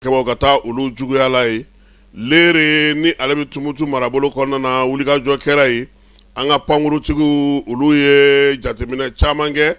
Kɛbaw ka taabolo juguyala yen Lere ni ale bɛ Tumutu marabolo kɔnɔna na wulikajɔ kɛra ye an ka pankurutigiw olu ye jateminɛ caman kɛ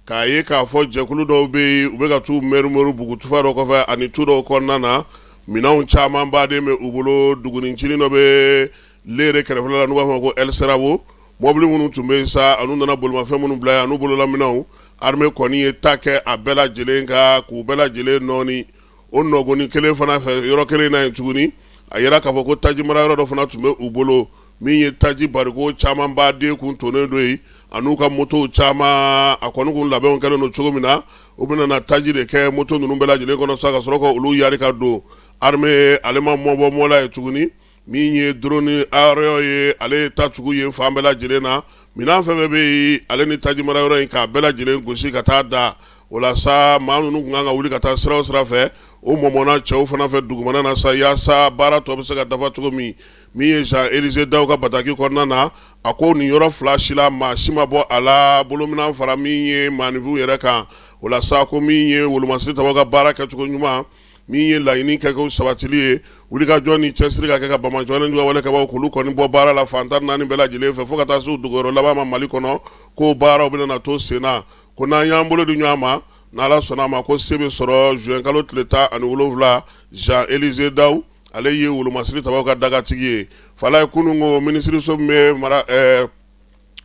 k'a ye k'a fɔ jɛkulu dɔw bɛ yen u bɛ ka t'u mɛrumɛru bugutufa dɔ kɔfɛ ani tu dɔw kɔnɔna na minɛnw caman baden bɛ u bolo dugutinin dɔ bɛ Lere kɛrɛfɛla la n'u b'a fɔ a ma ko Ɛlsirabo mɔbili minnu tun bɛ sa an'u nana bolimafɛn minnu bila yen an'u bololaminɛnw armée kɔni ye ta kɛ a bɛɛ lajɛlen kan k'u bɛɛ lajɛlen nɔɔni o nɔgɔni kelen fana fɛ yɔrɔ kelen na yen tuguni a yera k'a fɔ ko taji mara yɔrɔ dɔ fana tun bɛ u bolo min ye taji bariko caman baden kun tonnen don yen an'u ka motow caman a kɔni kun labɛnw kɛlen don cogo min na u bɛna na taji de kɛ moto ninnu bɛɛ lajɛlen kɔnɔ sa ka sɔrɔ ka olu yari ka don armée ale ma mɔgɔ bɔ mɔgɔ la yen tuguni Min ye drone aérien ye ale ye ta tugu yen fan bɛɛ lajɛlen na minɛn fɛn fɛn bɛ yen ale ni taji mara yɔrɔ in k'a bɛɛ lajɛlen gosi ka taa da o la sa maa ninnu kun kan ka wuli ka taa sira o sira fɛ o mɔmɔna cɛw fana fɛ dugumana na sa yaasa baara tɔ bɛ se ka dafa cogo min min ye zan elize daw ka bataki kɔnɔna na a ko nin yɔrɔ fila si la maa si ma bɔ a la bolominɛn fara min ye maanifinw yɛrɛ kan o la sa ko min ye wolomasiri tabaw ka baara kɛcogo ɲuman min ye laɲini kɛkow sabatili ye wulikajɔ ni cɛsiri ka kɛ ka banbaanciw ani juguya wale kɛbaw k'olu kɔni bɔ baara la fantan naani bɛɛ lajɛlen fɛ fo ka taa se u dogoyɔrɔ laban ma mali kɔnɔ ko baaraw bɛna na to sen na ko n'an y'an bolo di ɲɔgɔn ma n'Ala sɔnna a ma ko se bɛ sɔrɔ zuwɛnkalo tile tan ani wolowula zan elize daw ale ye wolomasiri tabaw ka dagatigi ye fala yen kunun ko minisiriso min bɛ mara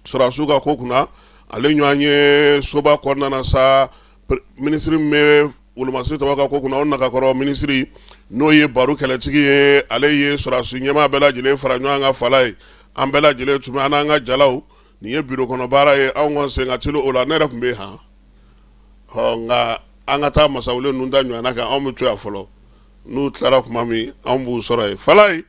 sɔrɔdasiw ka ko kunna ale ɲɔgɔn ye soba kɔnɔna na sa minisiri min bɛ wolomasiri tabaw ka ko kunna o nagakɔrɔ minisiri n'o ye Baru kɛlɛtigi ye ale ye sɔrɔdasi ɲɛmaa bɛɛ lajɛlen fara ɲɔgɔn kan fala yen an bɛɛ lajɛlen tun an n'an ka jalaw nin ye biro kɔnɔ baara ye anw ka sen ka ci o la ne yɛrɛ tun bɛ yen nka an ka taa masalaw ninnu da ɲɔgɔn kan anw bɛ to yan fɔlɔ n'u tilara tuma min anw b'u sɔrɔ yen fala yen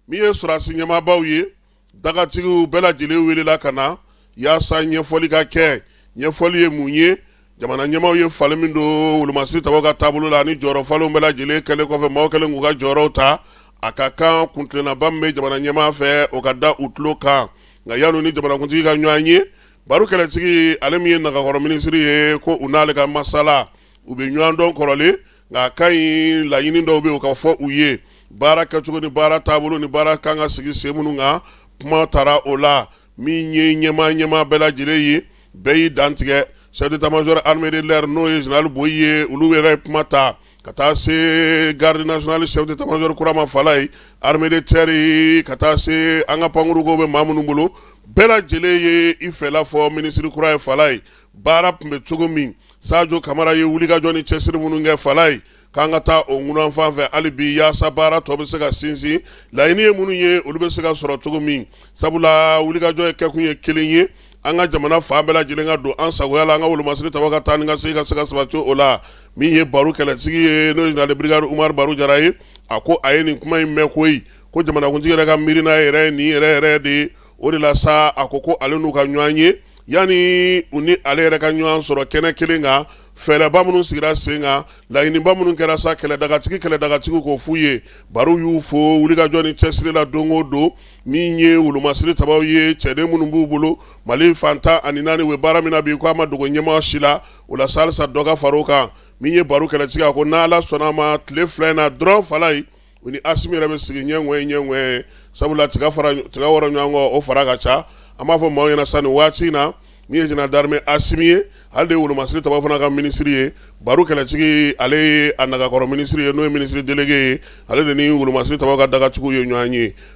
Min ye sɔrɔdasi ɲɛmaabaw ye, dagatigiw bɛɛ lajɛlen welela ka na yaasa ɲɛfɔli ka kɛ. Ɲɛfɔli ye mun ye? Jamana ɲɛmaaw ye falen min don wolomasiri tabaw ka taabolo la ani jɔyɔrɔ falenw bɛɛ lajɛlen kɛlen kɔfɛ, maaw kɛlen k'u ka jɔyɔrɔw ta. A ka kan kuntilennaba min bɛ jamana ɲɛmaa fɛ, o ka da u tulo kan. Nka yanni u ni jamanakuntigi ka ɲɔgɔn ye, Baru kɛlɛtigi, ale min ye nagakɔrɔ minisiri ye, ko u n'ale ka masala, u bɛ ɲɔgɔn dɔn kɔrɔlen. nka a ka ɲi laɲini dɔw bɛ yen o ka fɔ u ye baara kɛ cogo ni baara taabolo ni baara kan ka sigi sen minnu kan kuma taara o la min ye ɲɛma ɲɛmaa bɛɛ lajɛlen ye bɛɛ y'i dantigɛ chef d'état-major armée de l'air n'o ye général Boyi ye olu yɛrɛ ye kuma ta ka taa se garde nationale chef d'état-major kura ma fala yen armée de terre yen ka taa se an ka pankurukow bɛ maa minnu bolo bɛɛ lajɛlen ye i fɛla fɔ minisiri kura ye fala yen baara tun bɛ cogo min sajo kamara ye wulikajɔ ni cɛsiri minnu kɛ fala ye k'an ka taa o ŋunan fan fɛ hali bi yaasa baara tɔ bɛ se ka sinsin laɲini ye minnu ye olu bɛ se ka sɔrɔ cogo min sabula wulikajɔ ye kɛkun ye kelen ye an ka jamana fan bɛɛ lajɛlen ka don an sagoya la an ka wolomasiri tabaw ka taa ni ka segin ka se ka sabati o la min ye baro kɛlɛtigi ye n'o ye général brigade umaru baro jara ye a ko a ye nin kuma in mɛn koyi ko jamanakuntigi yɛrɛ ka miirina yɛrɛ ye nin yɛrɛ yɛrɛ de ye o de la sa a ko ko ale n'u ka ɲɔgɔn ye yanni u ni ale yɛrɛ ka ɲɔgɔn sɔrɔ kɛnɛ kelen kan fɛɛrɛba minnu sigira sen kan laɲiniba minnu kɛra sa kɛlɛdagatigi kɛlɛdagatigiw k'o f'u ye baro y'u fo wulikajɔ ni cɛsiri la don o don min ye wolomasiri tabaw ye cɛden minnu b'u bolo mali fan tan ani naani bɛ baara min na bi k'a ma dogo ɲɛmaa si la o la sa halisa dɔ ka far'o kan min ye baro kɛlɛtigi a ko n'ala sɔnna a ma tile fila in na dɔrɔn fala ye U ni asimi yɛrɛ bɛ sigi ɲɛ o ɲɛ sabula tiga wɔrɔ ɲɔgɔn kɔ o fara ka ca an b'a fɔ maaw ɲɛna sa nin waati in na min ye général d'armée asimi ye ale de wolomasiri tabaw fana ka minisiri ye baro kɛlɛtigi ale ye a nagakɔrɔ minisiri ye n'o ye minisiri délégué ye ale de ni wolomasiri tabaw ka dagatigiw ye ɲɔgɔn ye